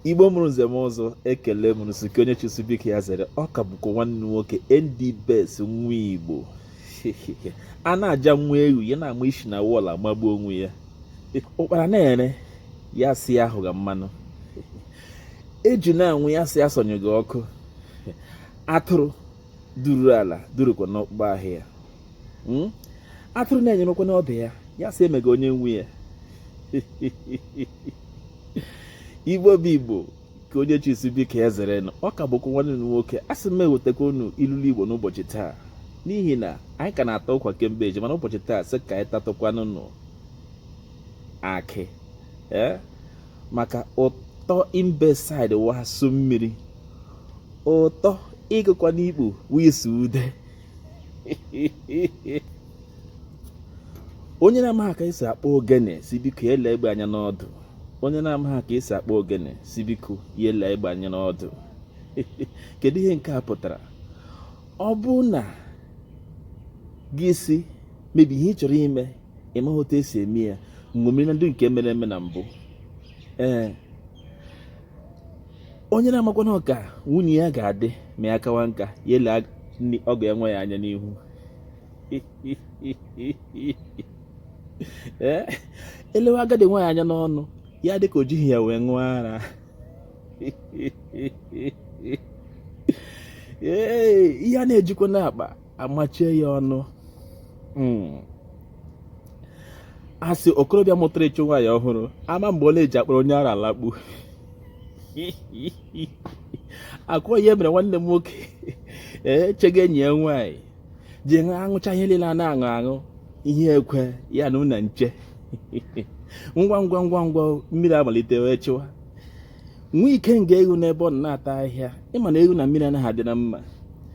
igbo mụrụ nze mụọ ọzọ ekele m unu sị ka onye chi sị biko ya zere ọ ka bụkwa nwanne nwoke nd best nwa igbo a na-aja nwa ewu ya na-ama isi na wall amagbu onwe ya ụkpara na-ere ya sị ahaga mmanụ eju na-anwụ ya sị asọnyụga ọkụ atụrụ duru ala durukwa n'akpụkpọ ahụ ya hmm? atụrụ na-anyụrụkwa n'ọdụ ya ya sị emega onye nwe ya igbo bụ igbo ka onye chi sị biko ya zere nụ ọ ka bụkwa nwanne unu nwoke asị m ewetakwa unu ilulu igbo n'ụbọchị taa n'ihi na anyị ka na-ata ụkwa kemgbe eji mana ụbọchị taa sị ka anyị tatụkwanụnụ akị ee eh? maka ụtọ imbesaịdị wasụ mmiri ụtọ ịgụkwa n'ikpo wisi ude onye na-amaghị ka esi akpụ ogene sị biko ya lee egbe anya n'ọdụ onye na-amaghị ka esi akpụ ogene sị biko ya lee egbe anya n'ọdụ kedu ihe nke a pụtara ọ bụrụ na gị sị mebe ihe ị chọrọ ime ị maghị otu esi eme ya ṅomiri na ndị nke mere eme na mbụ ee onye na-amakwana ka nwunye ya ga-adị ma ya kawa nka ya ele ọgọ ya nwaanyị anya n'ihu ee e lewe agadi nwaanyị anya n'ọnụ ya dị ka o jighị ya wee ṅụọ ara ee ihe a na-ejukwa n'akpa a machie ya ọnụ hmm. a sị okorobịa mụtara ịchụ nwaanyị ọhụrụ ama mgbe ọ na-eji akpọrọ onye ara alakpu akwa ihe mere nwanne m nwoke ee chega enyi ya nwaanyị ji aṅụcha ihe niile a na-aṅụ aṅụ ihe ekwe ya na ụna nche ngwa ngwa ngwa ngwa mmiri amalite wee chịwa nwa ikenga eghu nọ ebe ọ na-ata ahịhịa ị ma na eghu na mmiri anaghị adị na mma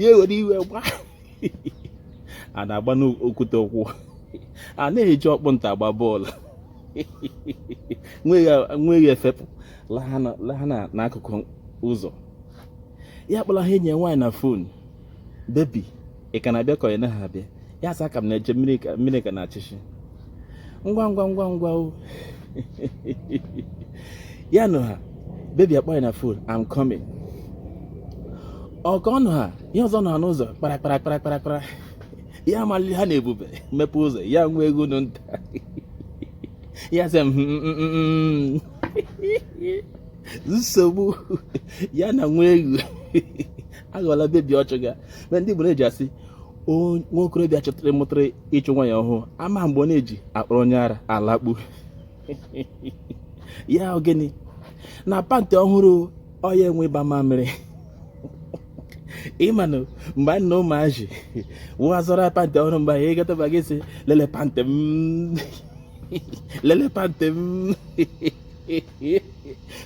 ya ewere iwe gbaa a na-agba n'okwute ụkwụ a na-eji ọkpụ nta agba bọọlụ nwa eghu efepụ laha n'akụkụ ụzọ ya akpọlaha enyi ya nwaanyị na phone baby ị ka na-abịa ka ị naghị abịa ya sị a ka m na-eche mmiri ka na-achịchị ngwa ngwa ngwa ngwa o ya nọha baby akpọọ ya na phone I'm coming ọka ọnụ ha ihe ọzọ nọ n'ụzọ kpara kpara kpara kpara kpara ya amalili ha na-ebube mepee ụzọ ya nwa eghu nụ nta ya sị m hmm, hmm, hmm, nsogbu ya na nwa eghu aghọla baby ọ chọga but ndị Igbo na-eji asị nwa okorobịa chọtara mụtara ịchụ nwaanyị ọhụrụ ama mgbe ọ na-eji akpọrọ onye ara alakpu ya ọ gịnị na pantị ọhụrụ ọ ya nwe ịba mamịrị ị manụ mgbe anyị na ụmụazị ọwụ a zụrụ pantị ọhụrụ mgbe anyị gataba anyị sị lele pantị m lele pantị m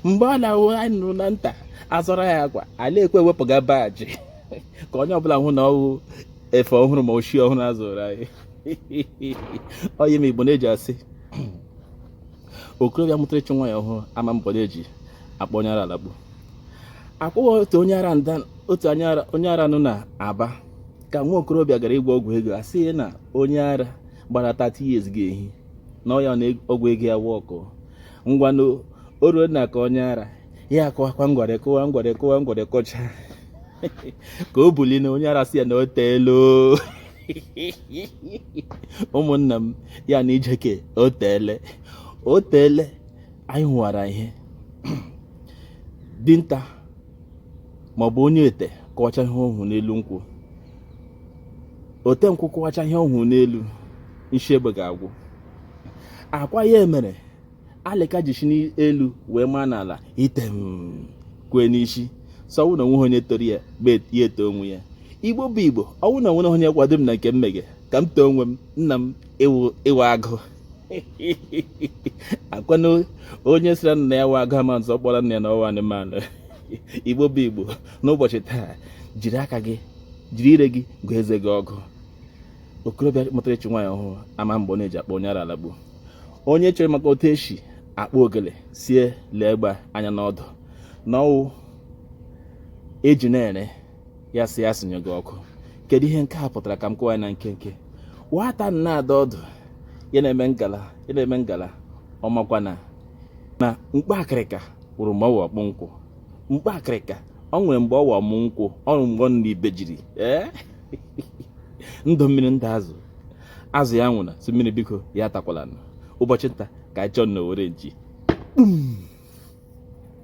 mgbe ọ na-awụ anyị nọ na nta a zụrụ anyị akwa anyị ekwe ewepụga baajị ka onye ọbụla hụ na ọwụ efe ọhụrụ ma ochie ọhụrụ a zụrụ anyị ọ ya mere igbo na-eji asị okorobịa mụtara ịchụ nwaanyị ọhụrụ ama mgbe ọ na-eji akpọ onye ara alakpu ọ kwa ọwụ otu onye ara nọ na aba ka nwa okorobịa gara ịgwọ ọgwụ ego a sị ya na onye ara gbara 30 years ga-ehina ya na ọgwụ ego ya work ngwanụ o ruo n'aka onye ara ya akụwakwa ngwere kụwa ngwere kụwa ngwere kụcha ka o buli na onye ara sị ya na o teele ụmụnna m ya na ijeke o teele o teele anyị hụwara ihe dinta maọbụ onye ete kọwacha ihe ọ hụrụ n'elu nkwụ ote nkwụ kọwacha ihe ọ hụrụ n'elu nshi egbe ga-agwụ ọ kwa ya mere alịka ji shi n'elu wee maa n'ala item kwee n'isi sị ọwụ na onweghị onye toro ya ya eto onwe ya igbo bụ igbo ọwụ na onweghị onye kwado m na nke m mege ka m too onwe m nna m ị wụ agụ ọ kwa na onye sịrị nna ya wụ agụ ama sị ọ kpọrọ nna ya na ọ wụ anụmanụ igbo bụ igbo n'ụbọchị taa jiri aka gị jiri ire gị gụọ eze gị ọgụ okorobịa mụtara ịchụ nwaanyị ọhụrụ ama mgbe ọ na-eji akpọ onye ara alakpu onye chere maka otu eshi akpụ ogele sị ya lee egbe anya n'ọdụ na ọwụ eji na-ere ya sị ya sinye gị ọkụ kedu ihe nke a pụtara ka m kọwa ya na nkenke nwata na-ada ọdụ ya na-eme ngala ọ makwa na na mkpa akịrịka wụrụ mgbe ọ wụ ọkpụ nkwụ mkpa akịrịka o nwere mgbe ọ wụ ọmụ nkwụ ọrụ mgbe nri ibe jiri ee ndụ mmiri ndụ azụ azụ ya anwụna sị mmiri biko ya atakwala ụbọchị nta ka anyị chụọ na owere nchi